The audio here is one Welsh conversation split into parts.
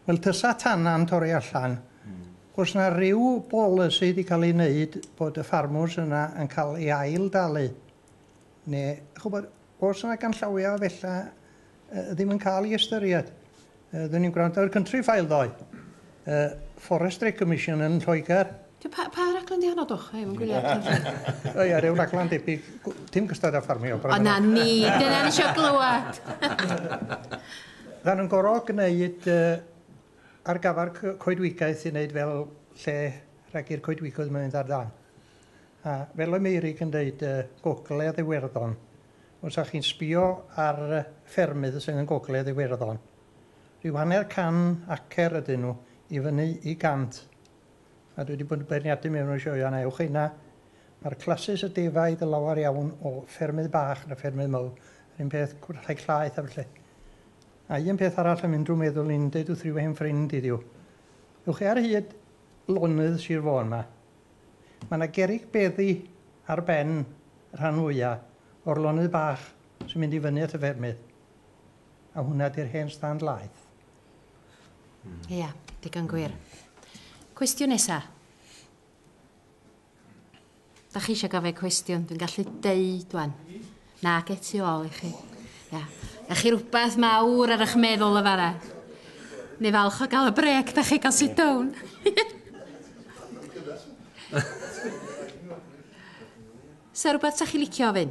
Wel tysa tanna'n torri allan, os na ryw bolisi di cael ei wneud bod y ffarmwrs yna yn cael ei ail dalu, neu ch'wbod, os na ganllawia o fella yy ddim yn cael ei ystyried. Yy 'dyn ni'n gwrando ar Countryfile ddoe, yy Forestry Commission yn Lloegr, Pa, pa raglen di honno, dwch? Hei, mae'n gwylio Catherine. O ia, rhyw raglen debyg, dim cystad a ffarmio. O na ni, dyna ni eisiau glywed. Rhan yn gorau gwneud uh, ar gafar coedwigaeth i wneud fel lle rhag i'r coedwigoedd mynd ar dan. A fel y Meirig yn dweud, uh, gogledd Iwerddon, os ydych chi'n sbio ar ffermydd sydd yn gogledd Iwerddon, rhyw hanner can acer ydyn nhw i fyny i gant a dwi wedi bod yn beirniadu mewn y sioeau yna, ewch yna, mae'r clasys y defaid y lawer iawn o ffermydd bach na ffermydd mawr, yr un peth rhai llaeth a felly. A un peth arall am unrhyw meddwl i'n deud wrth ryw hen ffrind iddiw. Ewch chi ar hyd lonydd Sir Fôn yma. Mae yna gerig beddi ar ben y rhan fwyaf o'r lonydd bach sy'n mynd i fyny at y ffermydd. A hwnna di'r hen stand laeth. Mm. Ia, yeah, digon gwir. Mm. Cwestiwn nesa. Da chi eisiau gofio cwestiwn, dwi'n gallu deud wan. Na, get tu ôl i chi. Ia. Yeah. Da chi rhywbeth mawr ar eich meddwl y fara? Neu falch o gael y brec, da chi gael sit down. Sa rhywbeth sa chi licio ofyn?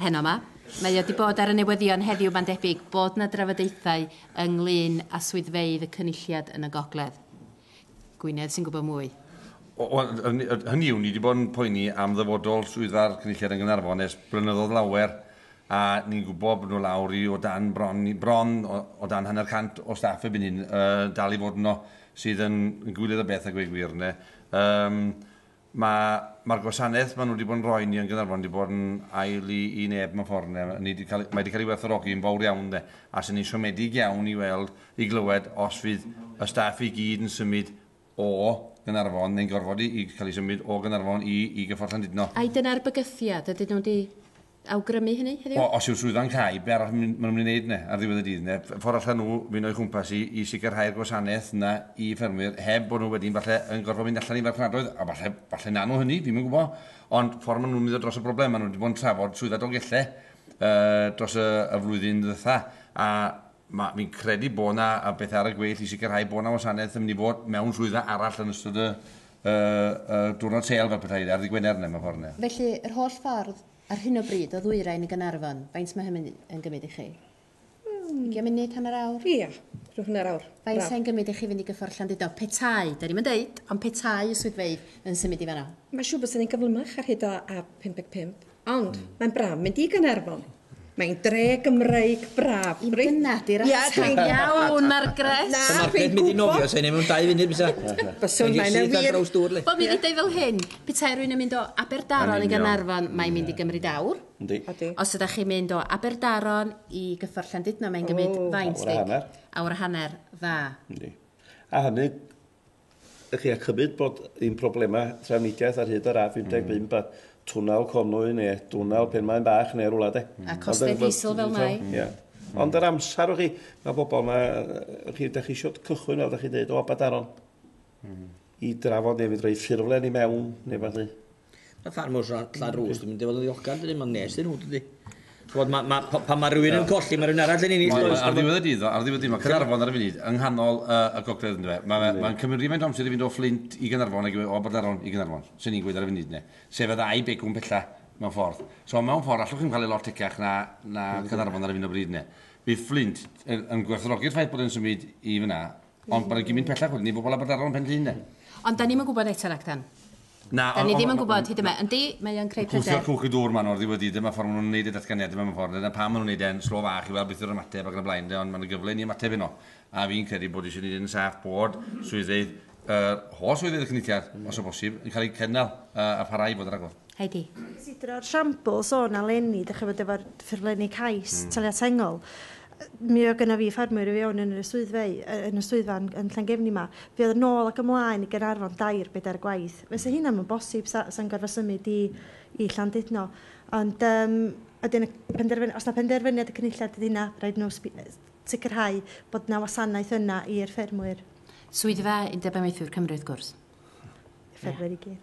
Heno 'ma. Mae o 'di bod ar y newyddion heddiw, mae'n debyg bod 'na drafodaethau ynglŷn â swyddfeydd y Cynulliad yn y Gogledd. Gwynedd sy'n gwybod mwy. Wel, hynny yw, ni 'di bod yn poeni am ddyfodol swyddfa'r Cynulliad yn Gaernarfon ers blynyddoedd lawer, a ni'n gwybod bod nhw lawr i o dan bron, bron o dan hanner cant o staff erbyn hyn, uh, dal i fod yno, sydd yn, yn gwyliad o beth a gweud gwir, ne. Um, Mae, mae'r gwasanaeth maen nhw wedi bod yn rhoi ni yn Gaernarfon wedi bod yn ael i, i neb mewn ffordd ynde. Ni wedi cael, mae wedi cael ei werthfawrogi yn fawr iawn ynde. A sy'n ni'n siomedig iawn i weld, i glywed os fydd y staff i gyd yn symud o Gaernarfon neu'n gorfod i, i cael ei symud o Gaernarfon i, i Gyffordd Llandudno. Ai dyna'r bygythiad? Ydyn nhw wedi awgrymu hynny heddiw? O, os yw'r swyddfa'n cau, be' arall maen nhw'n mynd i wneud yna ar ddiwedd y dydd? Neu ffordd allan nhw fynd o'i chwmpas i i sicrhau'r gwasanaeth yna i ffermwyr heb bod nhw wedyn falle yn gorfod mynd allan i farchnadoedd, a falle, falle wnawn nhw hynny, fi'm yn gwybod, ond ffordd maen nhw'n mynd dros y broblem, maen nhw wedi bod yn trafod Swyddfa Dolgellau yy dros y y flwyddyn ddwytha, a Mae, fi'n credu bod yna beth ar y gweill i sicrhau bod yna wasanaeth yn mynd i fod mewn swyddfa arall yn ystod y, y, y diwrnod sel fel pethau ar ddi Gwener yna, mewn ffordd yna. Felly, yr holl ffordd, ar hyn o bryd, o Ddwyrain i Gaernarfon, faint mae hynny yn gymryd i chi? Mm. Ugian munud, hanner awr? Ia, rhyw hanner awr. Faint sy'n gymryd i chi fynd i gyffordd Llandudno? Petai, da ni'n mynd deud, ond petai y swyddfeydd yn symud i fanno? Mae siŵr bod sy'n ei gyflymach ar hyd o A55. Ond mae'n braf mynd i Gaernarfon. Mae'n dre Gymreig braf. I dyna di'r ateb iawn, Margaret. Na, dwi'n gwybod. Margaret mynd i nofio, sa'n ei mewn dau funud, bysa? Bysa, mae'n wir. Mae'n draws dŵr, le. Wel, mi ddedau fel hyn, petai rwy'n yn mynd o Aberdaron i Gaernarfon, mae'n mynd i gymryd awr. Yndi. Ydy. Os ydych chi'n mynd o Aberdaron i gyffordd Llandudno, mae'n gymryd faint, Dic? Awr a hanner. Awr a hanner, dda. Yndi. A hynny, Ych chi a chymryd bod ein problemau trafnidiaeth ar hyd yr A55 mm. a twnal Conwy neu twnal Penmaen Bach neu rwla de. A costau diesel fel mai. Yeah. Mm. Ond yr amser o chi, mae bobl yma, chi, da chi eisiau cychwyn fel da chi dweud, o Abadaron, mm. i drafod neu fydd rhoi ffurflen i mewn, neu fath i. Mae ffarmwrs Llan Rwst yn mynd i fod yn ddiolchgar dydyn, mae'n nes iddyn nhw dydy. Chwod, ma, ma, pan mae rhywun yn colli, mae rhywun arall yn ennill. Ar ddiwedd y dydd, ar ddiwedd y dydd, mae Caernarfon ar y funud yng nghanol uh, y gogledd ynddo fe. Mae'n ma, ma cymryd rhywfaint amser i fynd o Fflint i Gaernarfon ac o Aberdaron i Gaernarfon, sy'n ni'n gweud ar y funud ne. Sef y ddau begwn pella mewn ffordd. So mewn ffordd, allwch chi'n cael ei lot tecach na, na Caernarfon ar y funud o bryd ne. Bydd Fflint yn, yn gwerthrogi'r ffaith bod yn symud i fyna, ond bod yn gymryd pellach wedyn i bobl Aberdaron pen llun ne. Ond da ni'n gwybod eto ragdan. Na, Da ni ddim yn gwybod hyd yma. Yndi, mae o'n creu pryder. Cwsio'r cwch y dŵr maen nhw oddi wedi, dyma ffordd maen nhw'n wneud y datganiadau mewn ffordd, dyna pam maen nhw'n wneud e'n slo fach i weld beth yw'r ymateb ac yn y blaen de, ond mae'n gyfle i ni ymateb yno. A fi'n credu bod eisiau wneud e'n saff bod swyddfeydd, yr holl swyddfeydd y Cynulliad, os o bosib, yn cael eu cynnal a pharhau i fod yn rhagor. Heidi. Cysidro'r siambl sôn a leni, dych chi'n gwybod, efo'r ffurflenni cais taliad sengl, Mi oedd gynna fi ffermwyr i fewn yn y swyddfa, yn y swyddfa yn, yn Llangefni 'ma. Fi oedd yn ôl ac ymlaen i Gaernarfon dair, bedair gwaith. Fysa hynna ddim yn bosib, sa, sa'n gorfod symud i, i Llandudno. Ond um, ydyn y penderfyniad, os na penderfyniad y cynulliad ydy hynna, rhaid nhw sicrhau bod na wasanaeth yna i'r ffermwyr. Swyddfa Undeb Amaethwyr Cymru, wrth gwrs. Ffermwyr i gyd.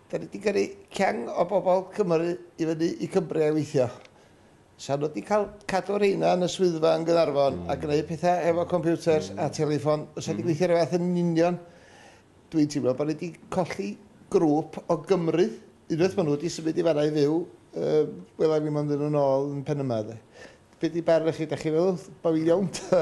Da ni di gyrru ceng o bobl Cymru i fyny i Cymbre i weithio. Sa nhw di cael cadw rheina yn y swyddfa yn Gaernarfon a gneud pethau efo compiwters a teleffon fysa di gweithio yr un fath yn union. Dwi'n teimlo bod ni di colli grŵp o Gymru. Unwaith ma' nhw di symud i fan'na i fyw yy wela i fi mond iddyn nhw nôl yn Pen-y-mân de. Be di barn chi? Da chi'n meddwl bo fi'n iawn ta?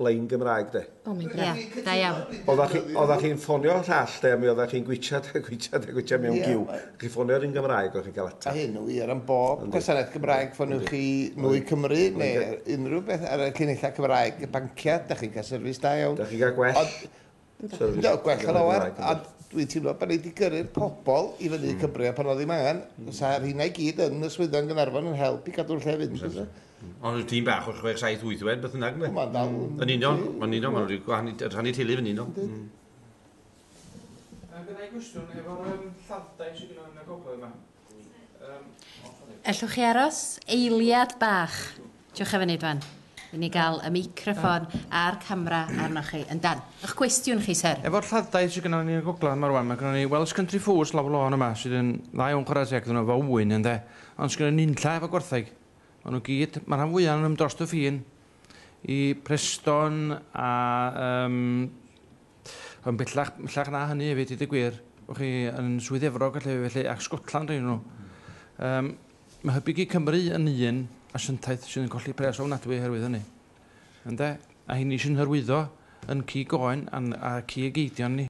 lein Gymraeg de. O mae'n braf. Ie, da iawn. Oeddech chi, oeddech chi'n ffonio y llall de, a mi oeddech chi'n gwitchad a gwitchad a gwitchad mewn giw. Chi ffonio ar un Gymraeg, o'ch chi'n cael atab. A hyn yn wir am bob gwasanaeth Gymraeg, ffoniwch chi Nwy Cymru neu unrhyw beth ar y llinellau Cymraeg, y banciau, da chi'n cael service da iawn. Da chi'n cael gwell. So, no, gwell yn lawer, a dwi'n teimlo bod ni wedi gyrru'r pobl i fyny mm. Cymru a pan oedd ddim angen, mm. sa rhina i gyd yn y swyddfa yn Gynarfon yn help i gadw'r lle fynd. Mm. Ond y tîm bach o 6-7-8 wed, beth yna, gyda? Mae'n dal. Mm. Yn union, yn union, mae'n rhyw gwahan, rhannu teulu yn union. Mm. Gyda i gwestiwn, efo'r lladdau sydd gyda yn y gogledd yma, Ellwch chi aros eiliad bach? Dewch â fe ni dwan, i ni gael y meicroffon a'r camera arnoch chi. Yndan, 'ych cwestiwn chi, Syr. Efo'r lladd-dai sydd gynnon ni yn y gogledd 'ma rwan, ma' gynnon ni Welsh Country Foods lawr lôn yma sydd yn dda iawn chwarae teg iddyn nhw efo ŵyn ynde, ond sgynnon ni nunlla efo gwartheg. Maen nhw gyd, ma' rhan fwya' ohonyn nhw'n drost y ffin i Preston a yym Ond bellach, bellach na hynny hefyd, i dy gwir, o'ch chi yn Swydd Efrog a felly, ac Scotland rhaid nhw. Um, mae Hybu Gig Cymru yn un asiantaeth sydd yn colli pres ofnadwy oherwydd hynny. Ynde? A hyn ni sy'n hyrwyddo yn cig oen a cig eidion ni.